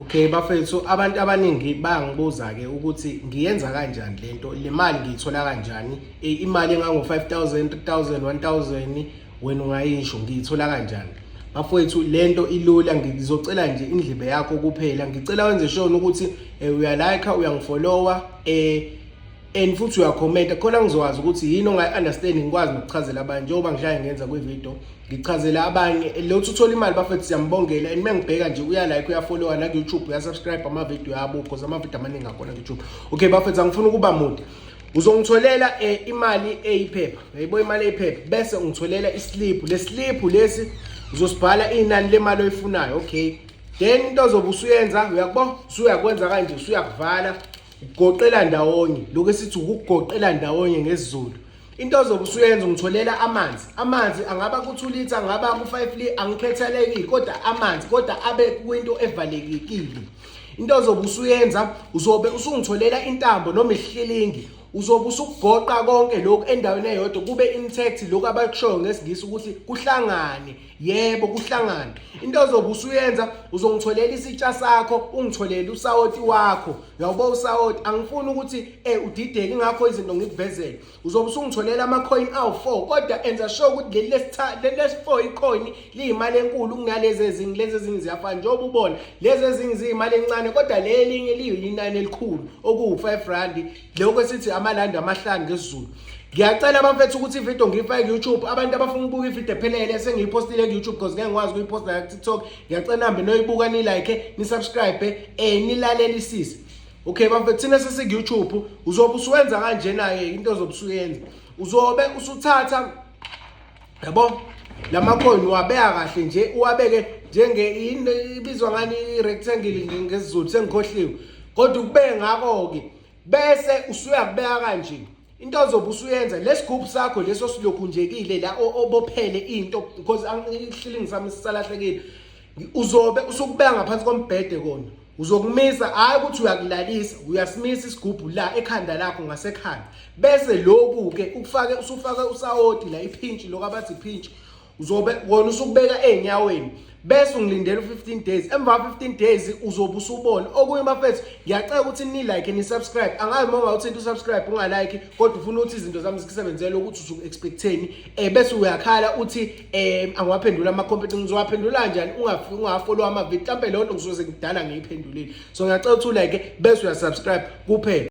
Okay bafethu abantu abaningi bangibuza ke ukuthi ngiyenza kanjani lento le mali ngiyithola kanjani e, imali engango 5000 3000 1000 wena ungayisho ngiyithola kanjani bafowethu lento ilula ngizocela nje indlebe yakho kuphela ngicela wenze sure ukuthi e, uyalike uyangifollowa eh and futhi uyakhomenta khona ngizokwazi ukuthi yini ongayi-understand ngikwazi nokuchazela abanye njengoba ngihlale ngenza kwividiyo ngichazela abanye lothi uthola imali bafethu siyambongela and mengibheka nje uyalike uyafollowa naku-youtube uyasubscribe amavidiyo yabo because amavidiyo amaningi akhona ku-youtube okay bafethu angifuni ukuba mude uzongitholela um imali eyiphepha yayibo imali eyiphepha bese ungitholela isiliphu le siliphu lesi uzosibhala inani lemali oyifunayo okay then into ozobe usuyenza uyakubo usuyakwenza kanje usuyakuvala Goqela ndawonye lokho esithi ukugoqela ndawonye ngesiZulu. Into ozobe usuyenza ungitholela amanzi. Amanzi angaba ku-2 liter, angaba ku-5 liter, angikhethelekile kodwa amanzi kodwa abe kwinto evalekekile. Into ozobe usuyenza uzobe usungitholela intambo noma ihlilingi uzobe usukugoqa konke lokhu endaweni eyodwa kube intact lokhu abakushoyo ngesiNgisi ukuthi kuhlangane yebo kuhlangana into ozobe usuyenza uzongitholela isitsha sakho ungitholele usawoti wakho yawubo usawoti angifuni ukuthi eh udideke ngakho izinto ngikuvezele uzobe usungitholela ama coin awu4 kodwa enza sure ukuthi leli lesithathu leli lesi4 icoin liyimali enkulu kunalezi ezingi lezi ezingi ziyafana njengoba ubona lezi ezingi ziyimali encane kodwa leli linye liyinani elikhulu okuwu5 rand lokho esithi amalandi amahlanu ngesizulu ngiyacela bamfethu ukuthi ividiyo ngiyifake ku-youtube abantu abafuna ukubuka ividiyo ephelele esengiyiphostile ku-youtube because ngeke ngikwazi ukuyiposta nayo kutiktok ngiyacela nihambe noyibuka nilike nisubscribe um nilalelisise okay bamfethu thina sesiku-youtube uzobe usuwenza kanjena-ke into ozobe usuyenza uzobe usuthatha yabo lamacoin wabeka kahle nje uwabeke njenge ibizwa ngani rectangle ngesizulu sengikhohliwe kodwa ukube ngako ke bese usuyakubeka kanje into ozobe usuyenza lesigubhu sakho leso silokhunjekile la obophele into because angihlilingisami sisalahlekile uzobe usukubeka ngaphansi kombhede kona uzokumisa hayi ukuthi uyakulalisa uyasimisa isigubhu la ekhanda lakho ngasekhanda bese lokhu ke ukufake usufake usawoti la iphintshi lokho abathi iphintshi uzobe wona usukubeka ezinyaweni bese ungilindela u15 days emva 15 days uzobe usubona okunye bafethu ngiyacela ukuthi ni like ni subscribe angazi uma ungawuthinta usubscribe ungalike kodwa ufuna ukuthi izinto zami zisebenzele ukuthi usuku expecteni eh bese uyakhala uthi eh angiwaphendula ama competition ngizowaphendula njani ungafiki ungafollow ama video mhlambe leyo nto ngizoze ngidala ngiyiphendulile so ngiyacela ukuthi u like bese uya subscribe kuphela